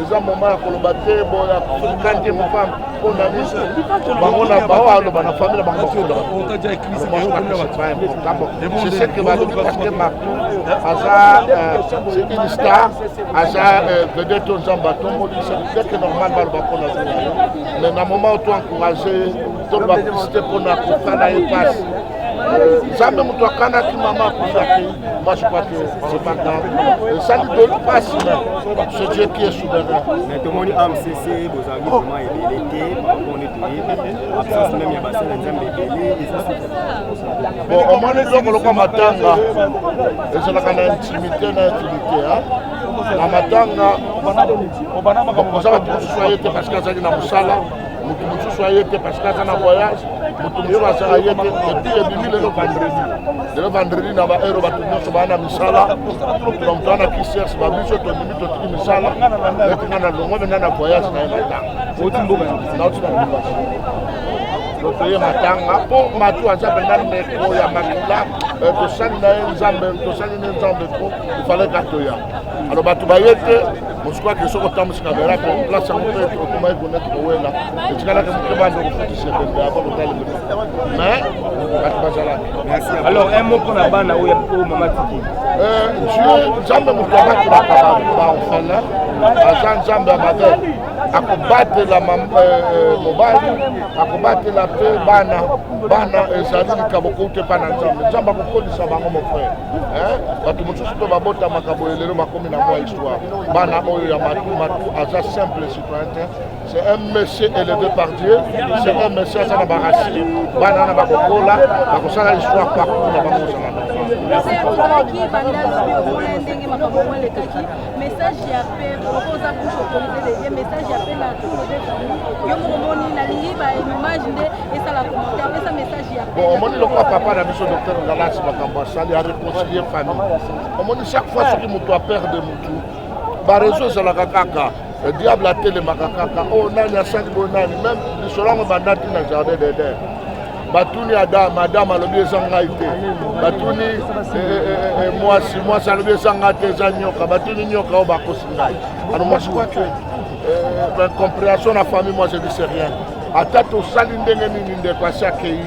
eza moma ya koloba te boya kante mopam mpo na biso bango na bao aloba na famille na bango bakundabaseke balobi paske martu aza une star aza vedete oyo nzambe atomboli seke normal baloba mpo na zela yo mais na moma oto encourage toloba publicité mpo na kosala ye pasi nzambe moto akanaki mama akufaki moi je crois que c'est pas grave esali doli pasi na ce dieu qui est souverain mais tomoni amcc bozalaki oh. vraiment ebele te parapon nde toyebi absence meme ya basala nzambe ebele bon omoni eloko lokwa matanga ezalaka na intimité na intimité na matanga oza bato mosusu aye te parce que azalaki na mosala moto mosusu aye te parce que aza na voyage moto mosusu asala ye te epuis ebimi lelo vendredi lelo vendredi na baheure bato nyonso baa na misala donc toa na kisers babiso tondimi totiki misala eti nga na longo mena na voyage na ye matanga nauti na lubasi totoye matanga mpo matu aza mpenza ndeko ya makila eh, tosali na ye nzambe tosali ne nzambe mpo ifalaki atoya alo bato baye te mosukwa ke soki otambwisi kamera ko place yango mpe okomaki koneti kowela etikalaki moke banda okofutisa ebembe ava kotaleli mais bato bazalaki alors un mot mpona bana oyo mama tiki nzambe moto abakelaka baorphelin aza nzambe ya mabe akobatela mobali akobatela mpe bana bana ezali likambo kouta epai na nzambe nzambe akokolisa bango mofrere bato mosusu mpe babotamaka boye lelo bakomi na moi bana oyo ya matu matu aza simple citoyen te c'est un monsieur élevé par dieu c'est un monsieur aza na barasi bana wana bakokola bakosala histoire partout na bango ozala message ya pe oza bouche autorisé de dire message ya pe na tour de famille yo moko moni na lingi ba image nde esala commentaire pesa message ya pe bon omoni lokola papa na biso docteur ngalasi makambo asali a réconcilier famille omoni chaque fois soki moto aperde motu barezo ezalaka kaka eh, diable atelemaka kaka o oh, nani asali boye nani meme lisolo yango bandaki na jardin deder batuni ada madame alobi eza ngai te batuni eh, eh, mwasi mwasi alobi eza ngai te eza nyoka batuni nyoka oyo bakosi ngai ano mwasi kwake comprehension na famille moi je dis rien ata tosali ndenge nini ndeko asi akei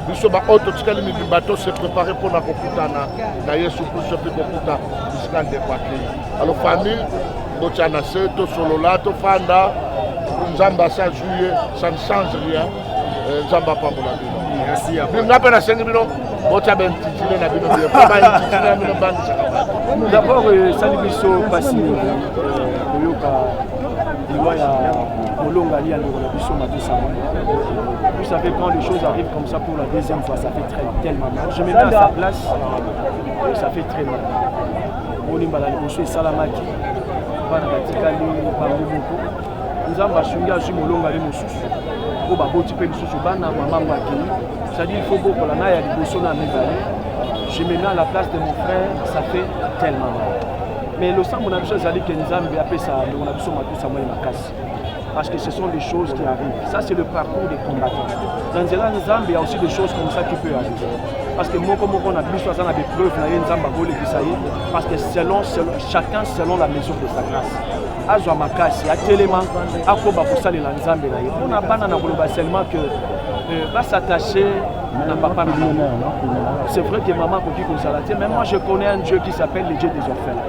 biso baoyo totikali mibimba to se prepare mpo na kokutana na yesu kristo mpe kokuta bisika ndeko akei alo famille botya na se tosolola tofanda nzambe asi azwi ye ça ne change rien eh, nzambe apambola bino nga mpe nasengi bino botya baintitile na bino bino mpo baintitile na bino bangisaka bato dabord esali biso mpasi mingi koyoka liwa ya molongali ya ndeko na biso Vous savez, quand les choses arrivent comme ça pour la deuxième fois, ça fait très tellement mal. Je me mets à sa place, ça fait très mal. omoni mbala liboso esalamaki bana batikali bango moko nzambe asungi azwi molongani mosusu oyo baboti mpe lisusu bana mamango akei cestadire il faut bokola na ya liboso na mibale je me mets à la place de mon frère ça fait tellement mal mais losambo na biso ezali ke nzambe apesa ndeko na biso matusa moi makasi parce que ce sont des choses qui arrivent. Ça, c'est le parcours des combattants. Dans Nzela Nzambe, il y a aussi des choses comme ça qui peuvent arriver. Parce que moi, comme on a vu, ça a des preuves, parce que selon, selon, chacun selon la mesure de sa grâce. azwa makasi atelema akoba kosalela nzambe na ye mpo na bana na koloba seulement que euh, basatache na papa na mama c'est vrai que mama akoki kozala te mais moi je connais un dieu qui s'appelle le dieu des orphelins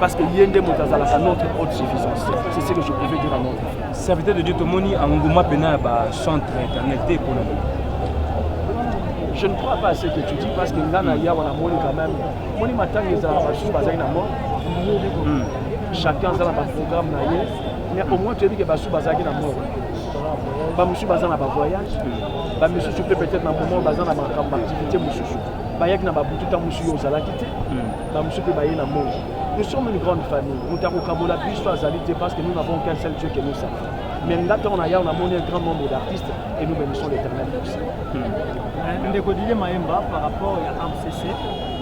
Parce que Yende Motazala, c'est notre haute suffisance. C'est ce que je pouvais dire à mon frère. Serviteur de Dieu, tout le monde a un gouma pena ba centre internet et pour nous. Je ne crois pas à ce que tu dis parce que là, il y a un monde quand même. Moi, je m'attends que ça va passer par un amour. Chacun a un programme. Mais au moins, tu as dit que ça va passer par un amour. bamosusu baza na bavoyage bamisusu mpe peut-être na moment baza na makambo activité mosusu bayaki na babututa mosusu yo ozalaki te bamosusu mpe baye na moi nous sommes une grande famille moto akokabola biso azali te parce que nous n'avons qu'un seul dieu que nous savons mais nga ntango na yao namoni un grand nombre d'artistes et nous bénissons l'éternel pour ça hmm. ndeko dilie mayemba par rapport ya amcc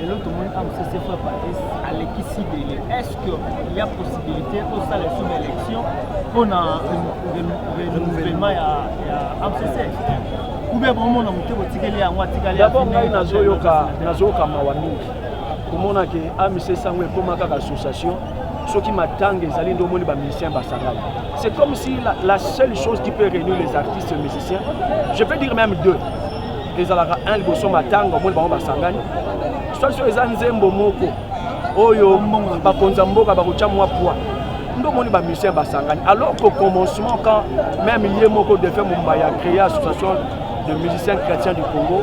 lelo tomoni amcc fra paris alekisi dele est ce que ya possibilité osala esu na élection mpo na renouvellement ya amcc oubien bomona moke botikeli yango atikali d'abord ngai nazoyoka mawa mingi komona ke amc sango ekoma kaka association soki matanga ezali nde omoni bamusicien basangani c'est comme si la, la seule chose qui peut réunir les artistes et musiciens je peux dire même deux ezalaka un liboso matanga omoni bango basangani soit soki eza nzembo moko oyo bakonzi ya mboka bakotya mwa poids nde omoni bamusicien basangani alors qu'au commencement quand même ye moko defe momba ya créer association de musiciens chrétiens du congo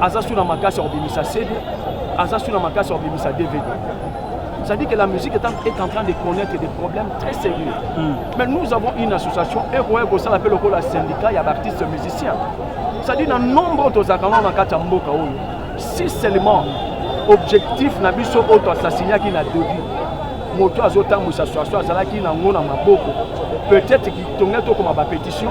aza sous na makasi ya kobimisa CD aza sous na makasi ya kobimisa DVD ça dit que la musique est en, est en train de connaître des problèmes très sérieux mm. mais nous avons une association ekoya kosala mpe lokola syndicat ya baartiste musicien ça dit na nombre tozalaka ngo na kati ya mboka oyo si seulement objectif na biso oyo toassasignaki na début moto azotambwisa soaso azalaki nango na maboko peut-être kitonge tokoma bapétition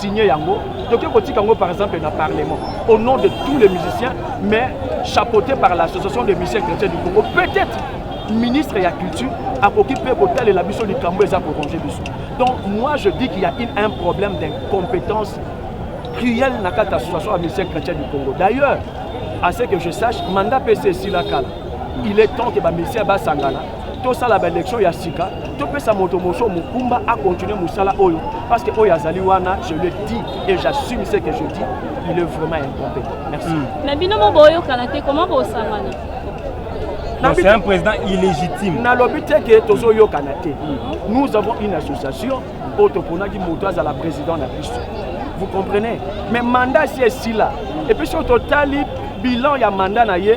signer yango toke kotika yango par exemple na parlement au nom de tous les musiciens mais chapeauté par l'association des musiciens chrétiens du congo peut-être ministre ya culture akoki mpe kotalela biso likambo eza korange biso donc moi je dis qu'il y a une, un problème d'incompétence cruelle na kati ya association ya musiciens chrétiens du congo d'ailleurs à ce que je sache mandat pc esila kala il est temps que bamisien basangana tosala baelektio ya sika topesa moto mosusu mokumba akontinue mosala oyo parce que oyo azali wana je le dis et j'assume ce que je dis il est vraiment incompétent merci hmm. na bino mo boyokana te comment bosangana c'est un président illégitime nalobi te ke tozoyokana te hmm. nous avons une association oyo toponaki moto azala président na biso vous comprenez mais mandat si esila epuis soki totali bilan ya mandat na ye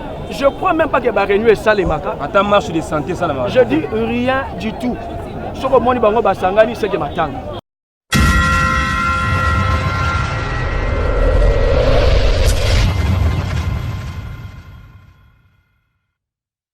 Je crois même pas que ba réunion esalemaka. Ata marche de santé esalemaka. Je dis rien du tout. Soko moni bango basangani seke matanga.